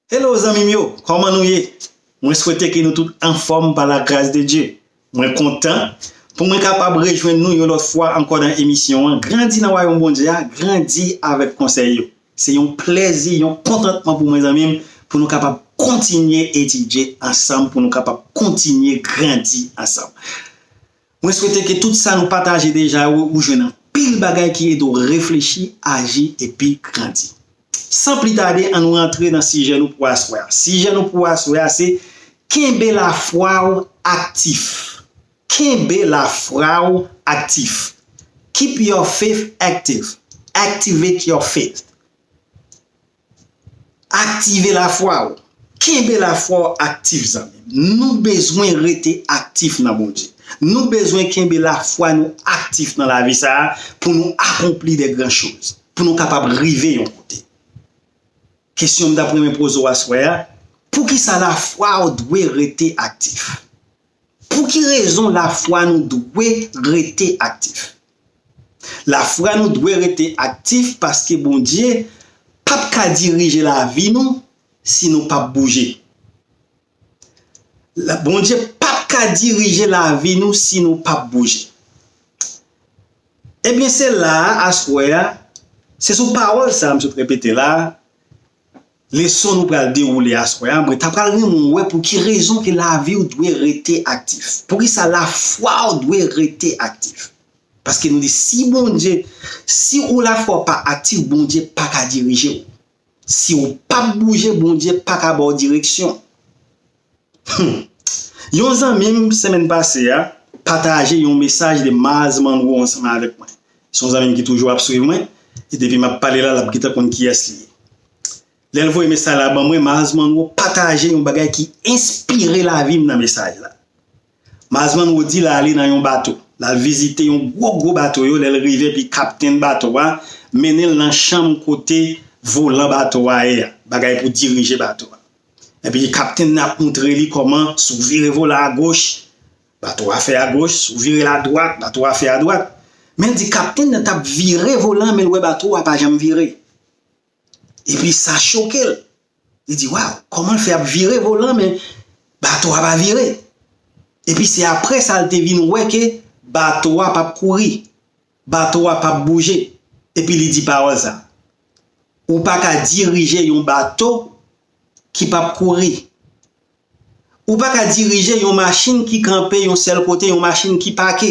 Hello zanmim yo kòman nou ye mwen swete ke nou tout anfòm pa la gras de Dye mwen kontan pou mwen kapab rejwenn nou yon lòt fwa ankò nan emisyon an grandi nan wayòm Bondye a grandi avèk konsèy yo se yon plèzi yon kontantman pou mwen zanmim pou nou kapab kontinye etidye ansanm pou nou kapab kontinye grandi ansanm. Mwen swete ke tout sa nou pataje deja yo ou jwenn anpil bagay ki ede w reflechi, aji epi grandi. San pli tade an nou rantre nan sijè nou pou aswè a. Sijè nou pou aswè a se Kenbe lafwa w aktif Kenbe lafwa w aktif Keep your faith active Activate your faith Aktive lafwa ou. Kenbe lafwa w aktif zanmi m. Nou bezwen rete aktif nan Bondye. Nou bezwen kenbe lafwa nou aktif nan lavi sa a pou nou akonpli de gran choz, pou nou kapab rive yon kote. Kesyon m t ap renmen poze w aswè a, poukisa lafwa w dwe rete aktif? Pou ki rezon lafwa nou dwe rete aktif? Lafwa nou dwe rete aktif paske Bondye pap ka dirije lavi nou si nou pap bouje. Bondye pap ka dirije lavi nou si nou pap bouje. Ebyen se la a aswè a, se sou pawòl sa a m sot repete la a, Leson nou pral dewoule aswè a, mwen ta pral renmen w wè pou ki rezon ke lavi w dwe rete aktif. Poukisa lafwa w dwe rete aktif? Paske nou di si Bondye, si ou lafwa w pa aktif Bondye pa ka dirije w. Si w pap bouje Bondye pa ka ba w direksyon. Humm yon zanmim semèn pase a pataje yon mesaj de Maaz Monroe ansanm avèk mwen se yon zanmim ki toujou ap swiv mwen e depi map pale la lap gentan konn kiyès li ye lèl voye mesaj la ban mwen Maaz Monroe pataje yon bagay ki enspire lavim nan mesaj la Mazmann Wodi la ale nan yon bato. L al vizite yon gwo gwo bato yo lè l rive epi kaptenn bato a mennen l nan chanm kote volan bato a ye a, bagay pou dirije bato a. Epi kaptenn nan ap moutre li kòman si w vire volan agoch, bato a fè agoch, si w vire l adwat, bato a fè adwat. Men l di kaptenn nan t ap vire volan men l wè bato a pa janm vire. Epi sa choke l. Li di, Waw, kòman l fè ap vire volan an men bato a pa vire? Epi se apre sa l te vin wè ke bato a pap kouri, bato a pap bouje. Epi li di pawòl sa, Ou pa ka dirije yon bato ki pap kouri. Ou pa ka dirije yon machin ki kanpe yon sèl kote, yon machin ki pake.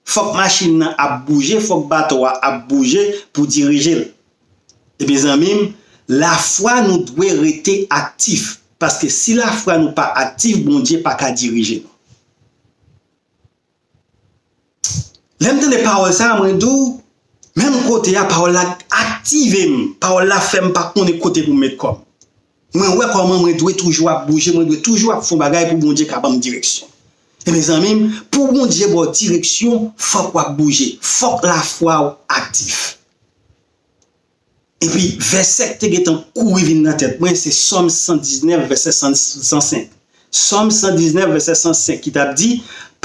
Fòk machin nan ap bouje, fòk bato a ap bouje pou dirije l. Ebyen zanmi m, lafwa nou dwe rete aktif, paske si lafwa nou pa aktif Bondye pa ka dirije nou. Lèm tande pawòl sa mwen di w menm kote a pawòl la aktive m, pawòl la fè m pa konnen kote pou m met kò m. Mwen wè kòman mwen dwe toujou ap bouje, mwen dwe toujou ap fon bagay pou Bondye ka ban m direksyon. E mezanmi m, pou Bondye ba w direksyon, fòk w ap bouje, fòk lafwa w aktif. Epi, vèsè k te gentan kouri vin nan tèt mwen, se Sòm 119, vèsè 105. Sòm 119, vèsè 105, ki t ap di,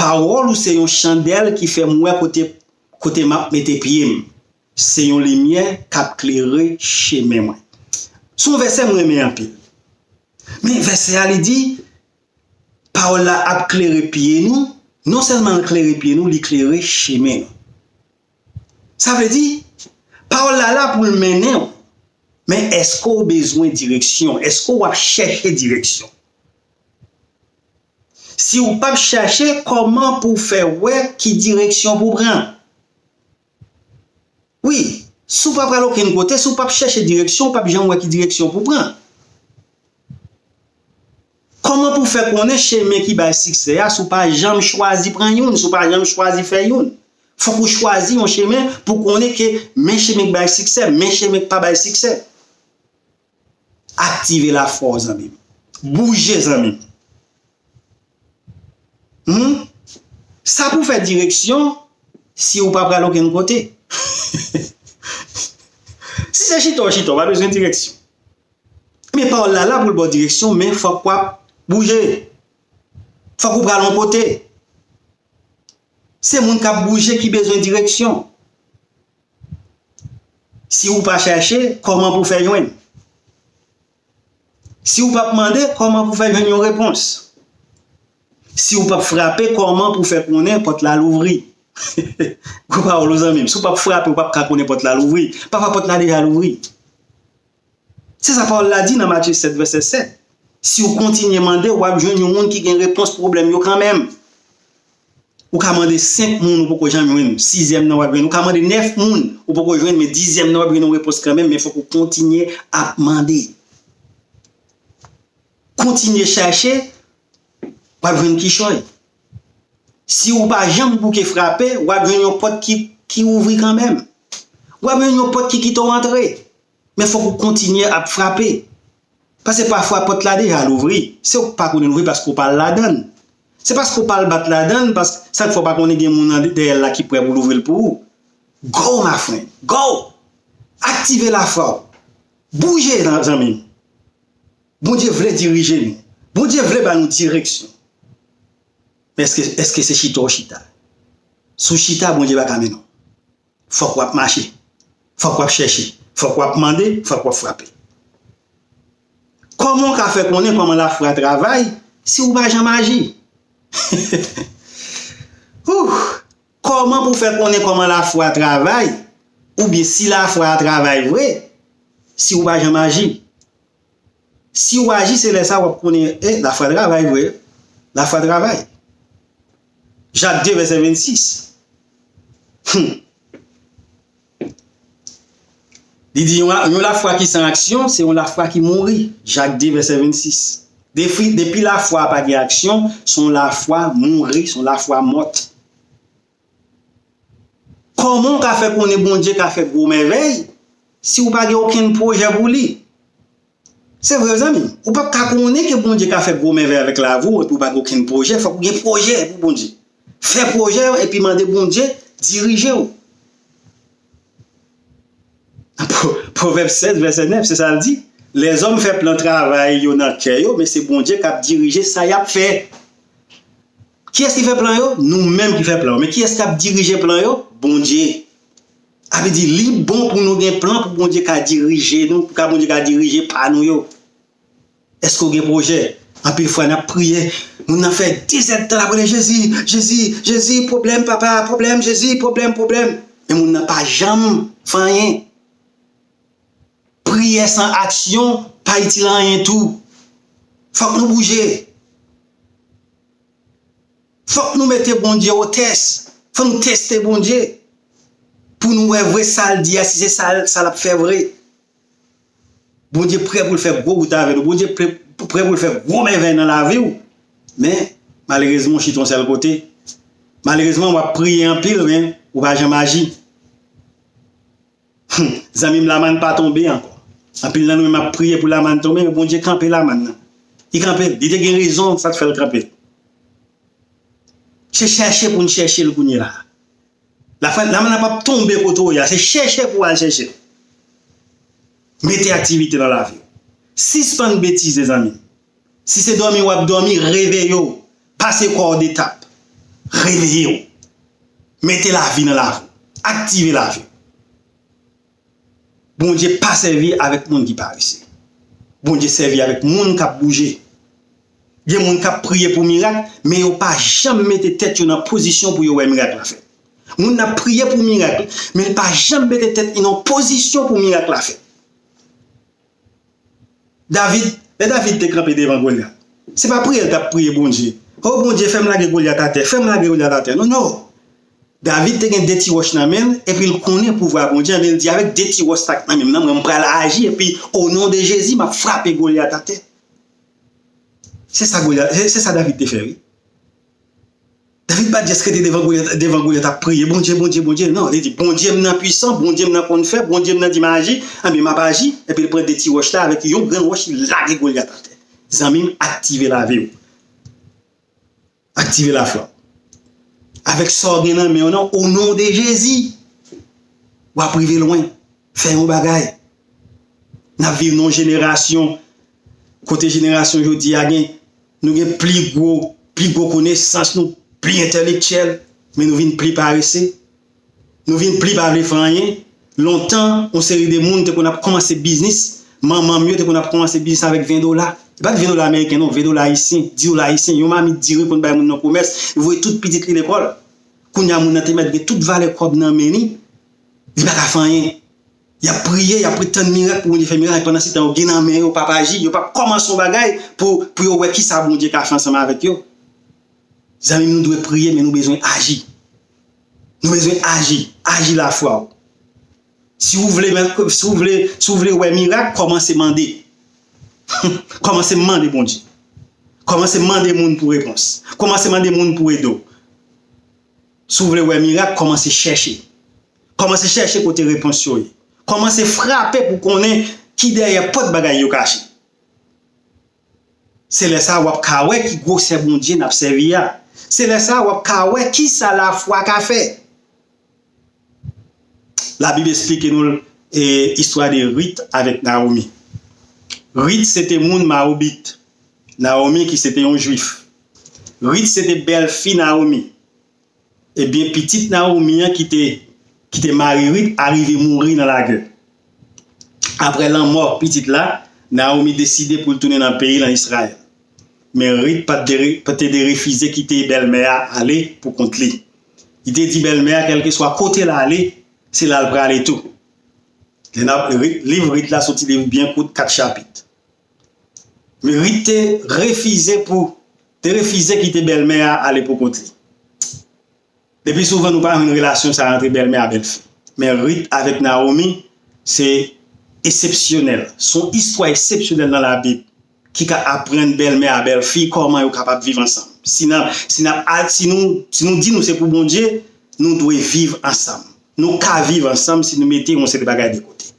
Pawòl ou se yon chandèl ki fè m wè kote kote m ap mete pye m, se yon limyè k ap klere chemen mwen. Se yon vèsè m renmen anpil. Men, vèsè a li di, Pawòl la ap klere pye nou, nonsèlman l klere pye nou, li klere chemen nou. Sa vle di, pawòl la la pou l mennen w, men èske w bezwen direksyon? Èske w ap chèche direksyon? Si w pap chache, kòman pou w fè wè ki direksyon pou w pran? Wi, si w pa pral okenn kote, si w pap chèche direksyon, w pap janm wè ki direksyon pou w pran. Kòman pou fè konnen chemen ki bay siksè a si w pa janm chwazi pran youn, si w pa janm chwazi fè youn? Fòk ou chwazi yon chemen pou w konnen ke men chemen k bay siksè, men chemen k pa bay siksè. Aktive lafwa w zanmi m. Bouje zanmi m. Humm! Sa pou w fè direksyon si w pa pral okenn kote. Si se chita w chita, w pa bezwen direksyon. Ebyen pawòl la la pou l ba w direksyon men fòk w ap bouje. Fòk ou pral yon kote. Se moun k ap bouje ki bezwen direksyon. Si ou pa chache, kòman pou w fè jwenn? Si ou p ap mande, kòman pou w fè jwenn yon repons? Si ou p ap frape, kòman pou w fè konnen pòt la louvri? Gwo pawòl wi zanmi m. Si ou p ap frape, ou p ap ka konnen pòt la louvri. Pafwa pòt la deja louvri. Se sa pawòl la di nan Matye 7, vèsè 7, Si w kontinye mande, w ap jwenn yon moun ki gen repons pwoblèm yo kanmenm. Ou ka mande senk moun, ou poko janm jwenn, sizyèm nan w ap jwenn. Ou ka mande nèf moun, ou poko jwenn, men dizyèm nan w ap jwenn yon repons kanmenm, men fòk ou kontinye ap mande. Kontinye chache, w ap jwenn kichòy. Si ou pa janm bouke frape, w ap jwenn yon pòt ki ouvri kanmenm. W ap jwenn yon pòt ki kite w antre. Men fòk ou kontinye ap frape. Pase pafwa pòt la deja louvri, se ou k pa konnen louvri paske ou pa al ladan l. Se paske ou pa al bat ladan l paske sa k fè ou pa konnen gen moun dèyè l la ki prè pou louvri l pou ou. Go ma friend! Go! Aktive lafwa w! Bouje zanmi m! Bondye vle dirije nou. Bondye vle ba nou direksyon. Men eske se chita ou chita? Si w chita Bondye pa ka mennen w. Fòk wap mache, fòk wap chèche, fòk wap mande, fòk wap frape. Kòman w ka fè konnen kòman lafwa travay si ou pa janm aji? Ooh! Kòman pou fè konnen kòman lafwa travay oubyen si lafwa a travay vre si ou pa janm aji? Siw aji se lè sa wap konnen eh lafwa travay vre lafwa travay Jak 2 vèsè 26 humm li di yon lafwa ki san aksyon se yon lafwa ki mouri Jak 2 vèsè 26 depi lafwa pa gen aksyon son lafwa mouri son lafwa mort. Kòman w ka fè konnen Bondye ka fè gwo mèvèy si w pa gen okenn pwojè pou li? Se vre zanmi, ou pap ka konnen ke Bondye ka fè gwo mèvèy avèk lavi w epi w pa gen okenn pwojè, fòk ou gen pwojè pou Bondye. Fè pwojè yo epi mande Bondye dirije w. Pwovèb 16 vèsè 9 se sa l di, Lèzòm fè plan travay yo nan kè yo, men se Bondye k ap dirije sa y ap fè. Kiyès ki fè plan yo? Nou menm ki fè plan yo. Men kiyès k ap dirije plan yo? Bondye. Sa vle di li bon pou nou gen plan pou Bondye ka dirije nou, pou Bondye ka dirije pa nou yo. Èske ou gen pwojè? Anpil fwa n ap priye, moun nan fè dezèdtan l ap rele Jezi, Jezi, Jezi, pwoblèm papa, pwoblèm Jezi, pwoblèm, pwoblèm. Men moun nan pa janm fè anyen. Priyè san aksyon pa itil anyen tou. Fòk nou bouje. Fòk nou mete Bondye o tès, fòk nou teste Bondye pou nou wè vre sa l di a si se sa l ap fè vre. Bondye prè pou l fè gwo wout avè nou, Bondye prè pou l fè gwo mèvèy nan lavi w men malerezman ou chita yon sèl kote, malerezman w ap priye anpil men ou pa janm aji. Humm zanmim lamann pa tonbe ankò anpil nan nou menm ap priye pou lamann tonbe men Bondye kanpe lamann nan li kanpel li te gen rezon sak fèl kanpel se chèche poun chèchel kounye a lamann nan pap tonbe kote ou ye a se chèche pou al chèchel mete aktivite nan laviw sispann betize zanmim. Si se dòmi wap dòmi, reveye w, pase kò w detap. Reveye w. Mete lavi nan lavi w. Aktive lavi w. Bondye pa sèvi avèk moun ki parese. Bondye sèvi avèk moun kap bouje. Gen moun kap priye pou mirak, men yo pa janm mete tèt yo nan pozisyon pou yo wè mirak la fèt. Moun nan ap priye pou mirak, men li pa janm mete tèt li nan pozisyon pou mirak la fèt. David, lè David te kanpe devan Golyat, se pa priye l t ap priye Bondye, O Bondye, fè m lage Golyat atè, fè m lage Golyat atè. Non, non! David te gen de ti wòch nan men l, epi l konnen pouvwa Bondye, anben l di, Avèk de ti wòch sa k nan men m nan, mwen pral aji, epi onon de Jezi, m ap frape Golyat atè. Se sa Golyat, se sa David te fè wi. David pa just rete devan Goliath ap priye Bondye Bondye Bondye nan li di Bondye m nan pwisan Bondye m nan konn fè Bondye m nan di m aji anben map aji epi l pran 2 ti wòch la avèk yon grenn wòch li lage Goliath atè zanmi m aktive lavi w aktive lafwa w avèk sa w gen nan men w nan o non de Jezi wap rive lwen fè yon bagay nap viv nan yon jenerasyon Kote jenerasyon jodi a gen, nou gen pli gwo, pli gwo konesans, nou pli entèlektyèl, men nou vin pli parese. Nou vin pli pa vle fè anyen. Lontan, yon seri de moun te konn ap kòmanse biznis, manman m yo te konn ap kòmanse biznis avèk 20 dola. E pa t 20 dola ameriken non, 20 dola ayisyen, 10 dola ayisyen, yon mamit diri konn bay moun nan komès, li voye tout pitit li lekòl. Kounye a moun nan te mèt gen tout valè kòb nan men li, li pa ka fè anyen. Yap priye, yap ret tann mirak pou Bondye fè mirak, pandan se tan yo gen nan men yo pap aji, yo pap kòmanse yon bagay pou pou yo wè kisa Bondye ka fè ansanm avèk yo. Zanmim nou dwe priye men nou bezwen aji. Nou bezwen aji, aji lafwa ou. Si ou vle men, si ou vle, si ou vle wè mirak, kòmanse mande. Kòmanse mande Bondye. Kòmanse mande moun pou repons. Kòmanse mande moun pou ede ou. Si ou vle wè mirak, kòmanse chèche. Kòmanse chèche kote repons yo ye. Kòmanse frape pou konnen ki dèyè pòt bagay yo kache. Se lè sa a w ap ka wè ki gwosè Bondye n ap sèvi a. Se lè sa a w ap ka wè ki sa lafwa ka fè. Labib esplike nou l istwa de Rit avèk Nawomi. Rit se te moun Mawobit, Nawomi ki se te yon Juif. Rit se te bèlfi Nawomi, Ebyen pitit Nawomi an ki te mari Rit arive mouri nan lagè. Apre lanmò pitit la, Nawomi deside pou l tounen nan peyi l an Izrayèl. Men Rit pa te derefize kite bèlmè a ale pou kont li. Li te di bèlmè a kèlkeswa kote l ale, se la l prale tou. Liv Rit la soti de byen kout kat chapit. Rit te refize pou te refize kite bèlmè a ale pou kont li. Lepi souvan nou pa jwenn relasyon sa antre bèlmè a bèlfi. Men Rit avèk Nawomi se esepsyonèl. Se yon istwa esepsyonèl nan labib ki ka aprann bèlmè a bèlfi kòman yo kapab viv ansanm. Si nan si nan al si nou si nou di nou se pou Bondye nou dwe viv ansanm. Nou ka viv ansanm si nou mete yon seri bagay de kote.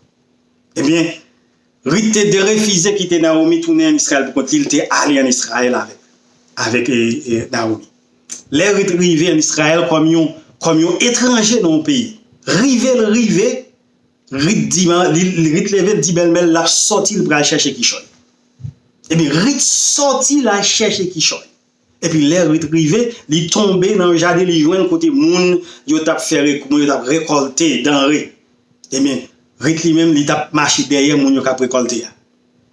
Ebyen. Rit te derefize kite Nawomi tounen ann Israël pou kont li, li te ale ann Israël avèk avèk Nawomi. Lè Rit rive ann Israël kòm yon kòm yon etranje nan yon peyi, rive l rive, Rit di ma li Rit leve l di bèlmè l l ap sòti l pral chèche kichòy. Ebyen Rit sòti l al chèche kichòy. Epi lè rit rive, li tonbe nan yon jaden, li jwenn kote moun yo t ap fè rekou, moun yo t ap rekòlte danre. Ebyen, rit li menm, li t ap mache dèyè moun yo k ap rekòlte a.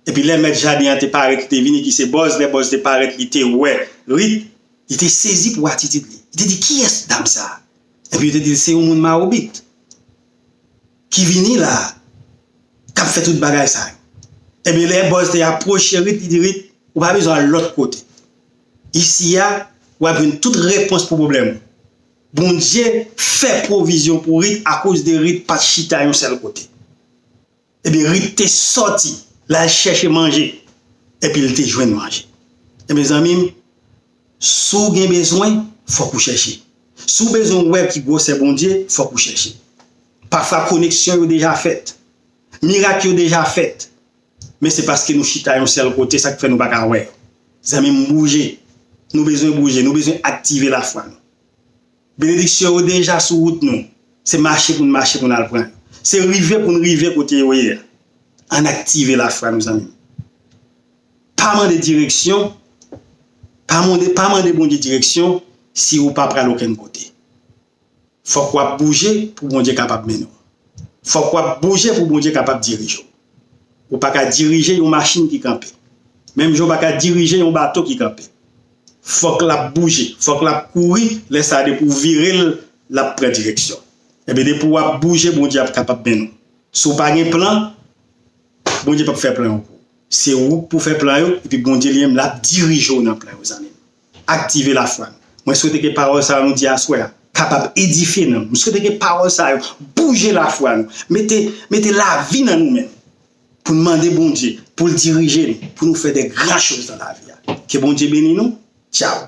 Epi lè mèt jaden an te parèt, li te vini, ki se Bòz, lè Bòz te parèt, li te wè rit, li te sezi pou atitid li. Li te di, Kiyès dam sa a? Epi yo te di l, Se yon moun Mawobit. ki vini la a, k ap fè tout bagay sa yo. Enben, lè bòz te apwoche Rit, li di Rit, Ou pa bezwen al lòt kote. Isi a, w ap jwenn tout repons pou pwoblèm ou. Bondye fè pwovizyon pou Rit akoz de Rit pa t chita yon sèl kote. Enben, Rit te sòti, l al chèche manje, epi l te jwenn manje. Enben, zanmi m. Si w gen bezwen, fòk ou chèche. Si w bezwen wè ki gwosè Bondye, fòk ou chèche. Pafwa koneksyon yo deja fèt. Mirak yo deja fèt. Men se paske nou chita yon sèl kote sa k fè nou pa ka wè. Zanmi m bouje. Nou bezwen bouje. Nou bezwen aktive lafwa nou. Benediksyon yo deja sou wout nou. Se mache pou n mache pou n al pran yo. Se rive pou n rive kote yo ye a. Ann aktive lafwa nou zanmi m. Pa mande direksyon, pa mande pa mande Bondye direksyon si ou pa pral okenn kote. Fòk w ap bouje pou Bondye kapab mennen w. Fòk w ap bouje pou Bondye kapab dirije w. Ou pa ka dirije yon machin ki kanpe. Menm jan ou pa ka dirije yon bato ki kanpe. Fòk l ap bouje, fòk l ap kouri, lè sa a depi w vire l, l ap pran direksyon. Enben depi w ap bouje Bondye ap kapab mennen w. Si w pa gen plan. Bondye pap fè plan yo pou ou se ou pou fè plan yo epi Bondye li menm lap dirije w nan plan yo zanmim aktive lafwa nou mwen swete ke pawòl sa yo nou di aswè a kapab edifye nanm nou mwen swete ke pawòl sa yo bouje lafwa nou mete mete lavi nan nou menm pou nou mande Bondye poul dirije nou pou nou fè de gran choz nan lavi a ke Bondye beni nou tchaw.